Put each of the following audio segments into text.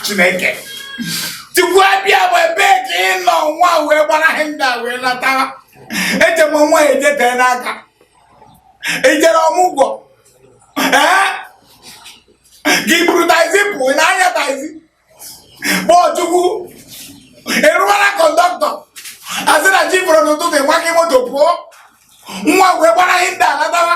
chineke chukwu abịama ebe ka ị nọ nwa wee gbara honda wee lata eje m nwa ejetee n'aka ijere ọmụgwọ ee gị buru taxi pụ ị na-anya taxi kpọọ chukwu ịrụwara kọndọktọ asị na chi fọrọ n'ụtụtụ ịgbaghị moto pụọ nwa wee gbara honda latawa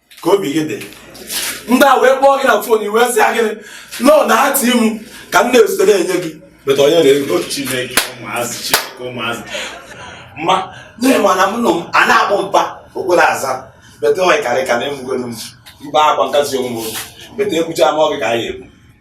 ka obi gị dị ndị a wee kpọọ gị na fon ị wee sị gịnị nọ na ha ti m ka m na-esite na-enye gị beta onye na-ego chineke ụmụazị chineke ụmụazị ma nne ma na m nọ m a na-akpọ mpa okporo aza beta onye karị ka na-emugolu m mba akwa nkasi onwe m beta ekwucha m ọ gị ka anyị egbu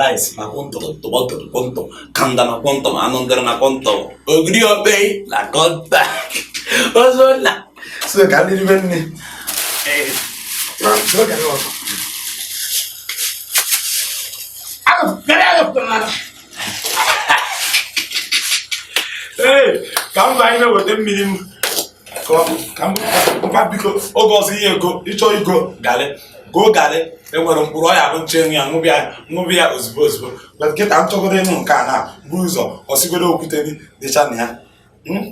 rice na quantum tọmatọ quantum kanda na quantum anụ ndịrị na quantum ogiri obe na quantum ozo na so ka ndị ribe nne ee ka mba anyị na-eweta mmiri m mba biko oge ọzọ ihe ego ịchọ igo galị goo galị enwere mkpụrụ ọya bụ nche ya ṅụbịa ṅụbịa ozugbo ozugbo but kịta m chọgoro ịnụ nke a na-eburu ụzọ ọsigoro okwute dịcha na ya hmm?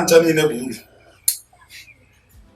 ncha niile bụ uru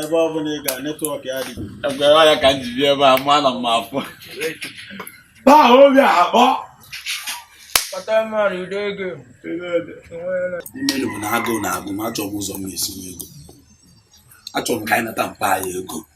ebe ọ bụla ị ga netwọk ya dị agwara ya ka m ji bịa ebe a mụ ana m afọ baa obi akpọ imenu bụ na agụụ na-agụ m achọrọ m ụzọ m ga-esi ego achọrọ m ka anyị nata mpa anyị ego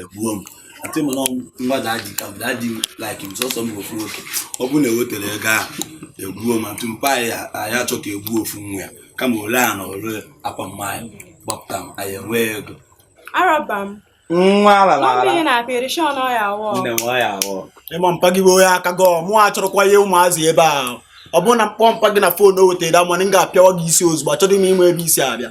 egbuo m atị m na mmadụ adị ka mmadụ adị like m sọsọ m ofu nwoke ọ bụrụ na ewetara ego a egbuo m atụ mpa anyị achọ ka egbuo ofu nwa ya kama o lee ana o lee akwa mma anyị gbapụta m anyị enwee ego araba m nwa ala na ala ihe na operation ọya awọ nne m ọya awọ ịma mpa gị bụ onye aka gum achọrọkwa ihe ụmụazị ebe a ọ bụrụ na m kpọọ mpa gị na fon o wetara money m ga-apịawa gị isi ozugbo achọghị m ịma ebe i si abịa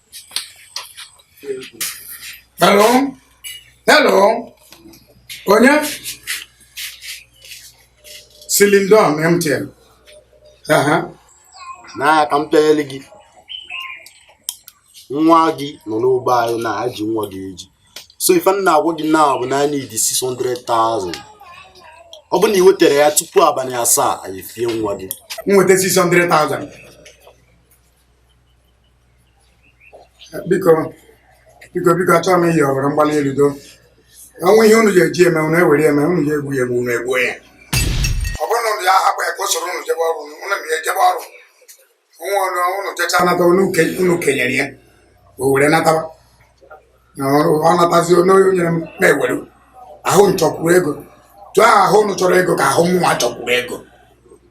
Hello? Hello? Onye? Silindon MTN. Aha. Na ka m pịanyere gị. Nwa gị nọ n'ụgbọ anyị na aji nwa gị eji. So ife m na-agwa gị na bụ na anyị need 600,000. Ọ bụ na ị wetara ya tupu abalị asaa anyị fie nwa gị. M weta 600,000. biko biko biko achọghị m iyi ọbara mgbali elu do o nwee ihe unu ji eji eme unu ewere eme unu ji egbu ya egbu unu egbuo ya ọ bụrụ na unu ya-ahapụ ya ka o soro unu jebe ọrụ unu na ya ejebe ọrụ nwa ọnụ unu jecha nata unu ke- unu kenyere ya o were nataba na ọrụ ọ natazi onye onye nyere m mụ ewere ahụ m chọkwuru ego etu ahụ unu chọrọ ego ka ahụ mụnwa chọkwuru ego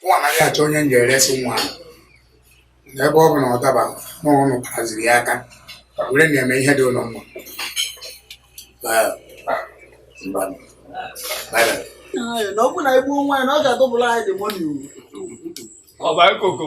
mụ anaghị achọ onye m ga-eresi nwa ahụ na ebe ọ bụ na ọ daba na ụnụ kpaziri ya aka were na-eme ihe dị ụnụ mma na ọ bụ na egbuo nwaanyị na ọ ga-adọbụla anyị dị mọni Ọba ekoko.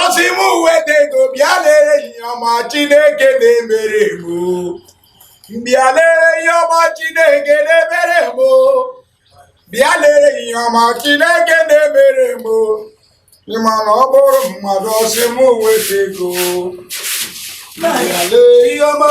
ọ sị mụ weta ego bịa lere ihe ọma chineke na-emere m bịa lere ihe ọma chineke na-emere m bịa lere ihe ọma chineke na-emere m ị ma na ọ bụrụ mmadụ ọ sị mụ weta ego bịa lere ihe ọma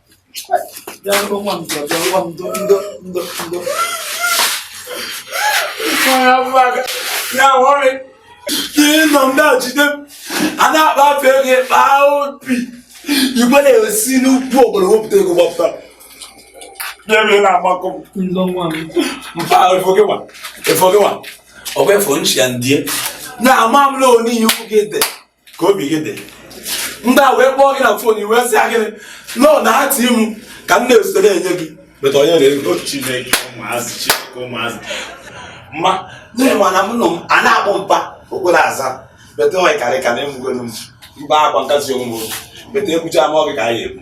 ihe nọ ndị a jide a na-akpa afọ ego kpaa obi igwe na-esi n'ugwu obodo wepụta ego gbapụta n'ebe na-agbakọ mba efogịwa efogịwa ọgwa efo nchi ya ndie na-ama m na onye ihe oge dị ka obi gị dị ndị a wee kpọọ gị na phone ị wee sị gịnị nọ na ha ti m ka m na-ezute na-enye gị better onye na-ego chineke ụmụazị chineke ụmụazị ma na-enwe na m nọ m a na-akpọ mpa okporo aza better onye karị ka na-emugolu m mba akwa nkasi onwe m beta ekwucha m ọ gị ka anyị ekwu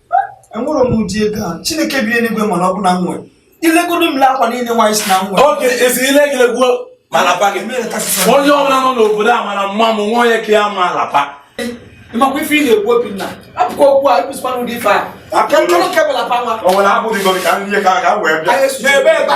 enwere m ụdị ego a chineke bi n'eluigwe mana ọ bụ na m nwere ilegodo m akwa niile nwaanyị si na m nwere oge esi ile gị legwuo malapa gị onye ọbụla nọ n'obodo a mara mma m nwa onye ka ya ma alapa ị makwa ife ị na-ekwu obinna hapụkwa okwu a ịpụsịkwa n'ụdị ife a aka nkọrọ kebụla pa nwa o nwere abụghị gị ka nri ka ka wee bịa n'ebe ebe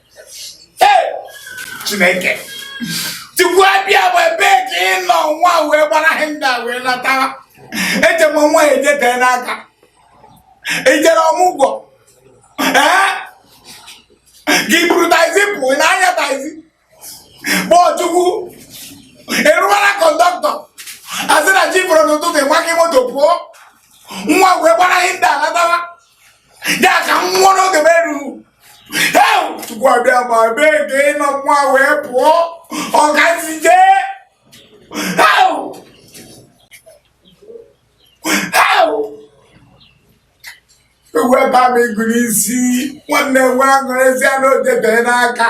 chineke chukwu abịama ebee ka ị nọ nwa wee gbara ihe ndị a wee latawa eche m nwa ejetee n'aka i jere ọmụgwọ ee gị buru taxi pụọ na-anya taxi kpọọ chukwu ịrụwara conductor a sị na chi fọrọ n'ụtụtụ nwa gị moto pụọ nwa wee gbara ihe ndị a latawa ya ka m nwụọ n'oge m erughị chukwu abịama ebee ka ị nọ nwa wee pụọ ọgazi jee ewu ebe a ma ịgụ n'isi nwanne nwe aṅụrịzi a n'odebere n'aka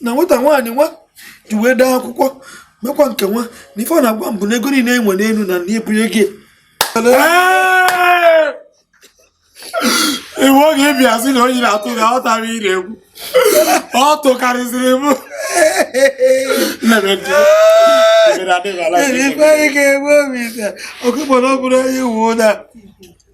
na nwata nwaanyị nwa ji wee daa akwụkwọ mekwa nke nwa na ife ọ na-agwa m bụ na ego niile enwe n'elu na na ebunye gị iwu oge ị bịa sị na onye na-atụ gị aghọtara ị na-ekwu ọ tụkarịsịrị m Ele foi que eu vou me dar. O que morou por aí, o Uda.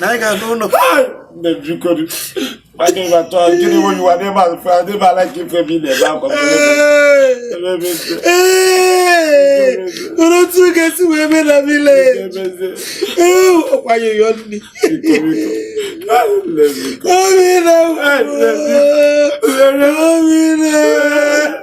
na anyị ga-anụ ụlọ nne m biko nwanne m atọ gịnị nwe yiwa n'ebe a fe adị m ala ka ife m na-ebe akwa Oro tu ga si wee mee na village. Ee, ọkwa yoyo nri. Obi na obi na.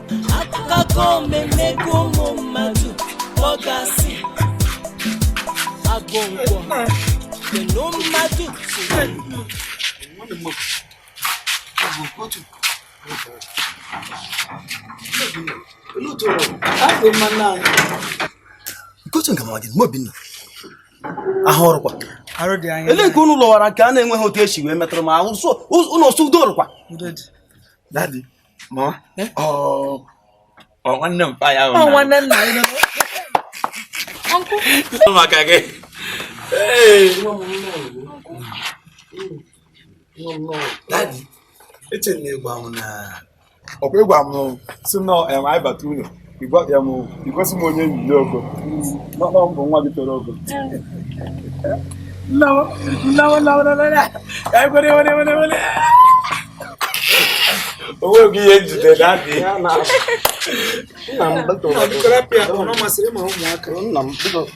akụkọ mmemmego ụmụ mmadụ kpọgasị agụngwọ kenu mmadụ kotu nke mawadị mgbe obinna ahụ ọrụkwa lee nke unu lọwara nke a na-enweghị otu esi wee metụrụ m ahụ ụlọ sụdo ọrụkwa nwanne mpa ya nwanne nna ya maka gị eche na ịgwa m na ọkwa ị gwa m sị na anyị bata ụlọ Igwa ya m igosi m onye enyi ogo n'ọkpọ mbụ nwa gị toro ogo onwe gị ihe njide daddy nna m biko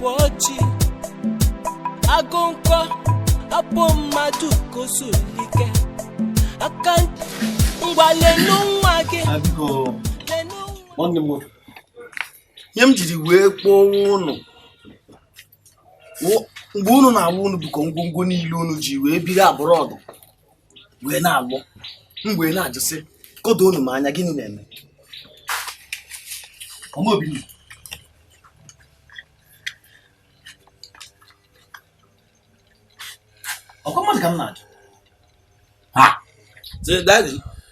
Pọchi agụnkọ abụ mmadụ kosulike aka ngwa leenụ nwa gị ihe m jiri wee kpọọ unu mgbe unu na-alọ unu bukọọ ngwongwo niile unu ji wee biri abroad wee na-alọ m wee na-ajụ sị kedụ unu m anya gịnị na-eme ọkwa mmadụ ka m na-ajụ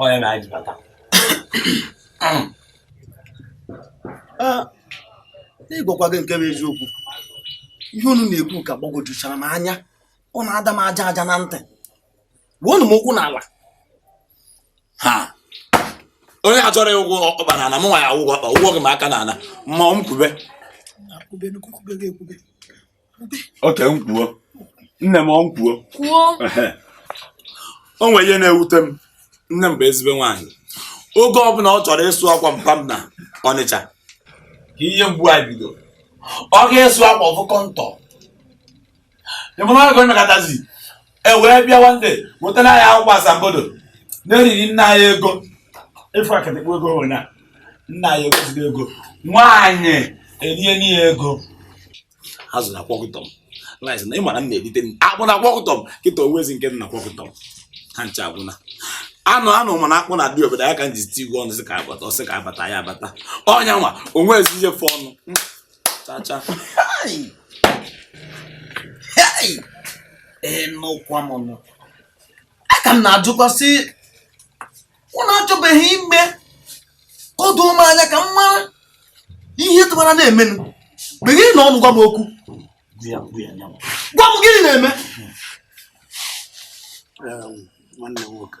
ọ ya na anyị bata n'ịgwakwa gị nke bụ eziokwu ihe unu na-ekwu ka gbagwojuchara m anya ọ na-ada m aja aja na ntị wuonu m okwu n'ala ha onye achọrọ ụgwọ ọkpa na ala m nwa ya ụgwọ ọkpa ụgwọ gị m aka na ala ma ọ m kwube oke m kwuo nne m ọ m kwuo kwuo o nwere ihe na-ewute m nne m bụ ezigbo nwaanyị oge ọbụla ọ chọrọ ịsụ akwa mpa m na ọnịcha ka ihe mgbu a bido ọ ga-esu akwa ọ fụ kọndọm ịmụrụ ọgụ emekatazi e wee bịa nwanne wetara anyị akwụkwọ asambodo na-eriri nna anyị ego ịfụ akatakpo ego nwere na nna anyị ego ziri ego nwaanyị erie n'ihe ego ha zụrụ akwọkụtọ m nwaanyị na ịmara m na-erite m akpụ na akwọkụtọ m kịta owezi nke m na akwọkụtọ m ha ncha agwụna anụ anụ mana akpụ na adị obodo ya ka m ji tigwe ọnụ sị ka abata ọsị ka abata ya abata ọnya nwa o nwezi ife ọnụ chacha ee nụkwa m nụ a ka m na-ajụkwa sị ụnụ achọbeghị ime ka o doo m anya ka m mara ihe tụbara na-emenụ meghenụ ọnụ gwa m okwu gwa m gịnị na-eme nwanne m nwoke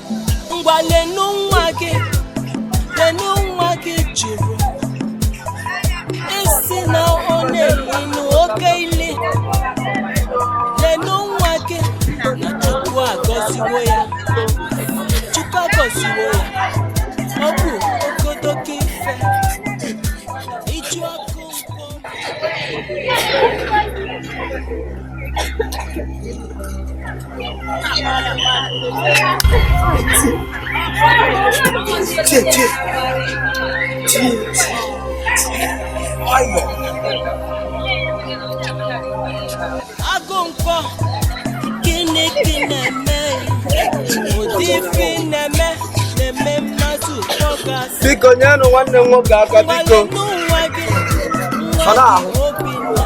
ngwa lenu nwa gị lenu nwa gị jụrụ ị sị na ọ na-elinu oke ili lenu nwa gị na chukwu agọziwo ya chukwu agọziwo ya ọ bụ okodoke ife ịchụ ọkụ nkwụ agụ nkwọ gịnị ka ị na-eme ụdị ife ị na-eme na-eme mmadụ kpọọ gị asị biko nyenụ nwanne m nwoke aka biko ngwa lenu nwa gị Ọ na-ahụ. nwa obinna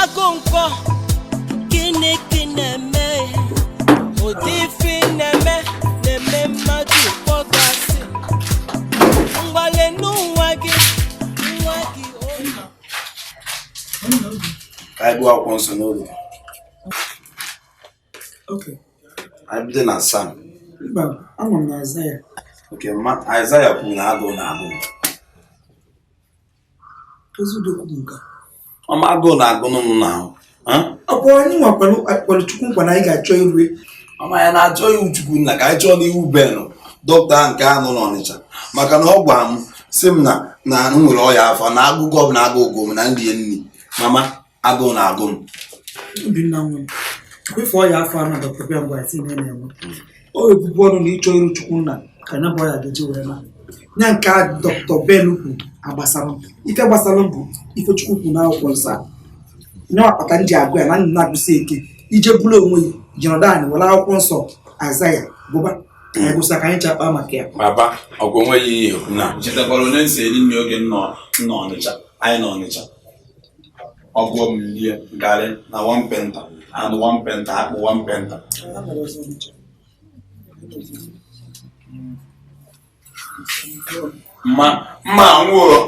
Agụnkwọ gịnị ka ị na-eme ụdị ife ị na-eme na-eme mmadụ kpọọ gị asị ngwa lenu nwa gị nwa gị oke ka anyị gụọ akwụkwọ nsọ n'ụlọ anyị bido na sam mba ama m na aịzaya oke ma aịzaya kwuru na agụụ na agụụ mama agụụ na-agụnụ m n'ahụ ọ bụ anyị nwa kwelu chukwu nkwa na anyị ga-achọ iru e mama ya na ịchọ iru chukwu nna ka anyị chọọnụ iru Ben dọkịta nke a nọ n'ọnịcha maka na ọ gwara m sị m na na m nwere ọya afọ na agụgụ ọbụla agụgo m na m rie nri mama agụụ na-agụ m Obinna nwa m kwefe ọya afọ a dọkịta Ben gwa sị ị na-enwe o ibu ọnụ na ịchọ iru chukwu nna ka nya bụ ọya ga-eji wee naa nya nke a dọkịta ben kwu agbasarọ m ife gbasara m bụ ife chukwu kwu n'akwụkwọ nsọ ọ nya kpata m ji agụ ya na nna na-agụsi ike ije bụrụ onwe ya jọrọda anyị were akwụkwọ nsọ Aịzaya gụba ka anyị gụsa ka anyị ji akpa maka ya baba ọgwụ onweghị ihe na chetakwara onye nsị eri nri oge nọ nọ ọnịcha anyị nọ ọnịcha ọ gụọ m lie garị na one painter anụ one painter akpụ one painter mama m nwụrụ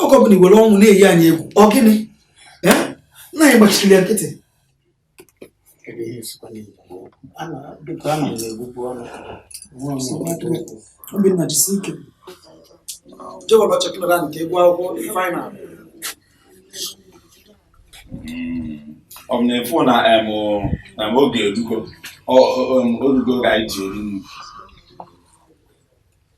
oge ọbụna i were ọnwụ na-eyi anyị egwu ọ gịnị nna anyị gbachiri ya nkịtị Obinna jisi ike jewọrọ chekụlọra ka ị gụọ akwụkwọ final ọ bụ na-efu na em na m oge erugo ọ- ọ- em, orugo oge anyị ji eri nri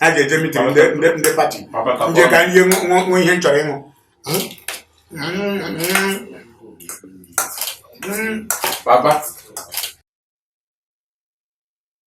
a ga-eje mitin ndị pati ndị ka e nwe ihe m chọrọ ịṅụ Papa.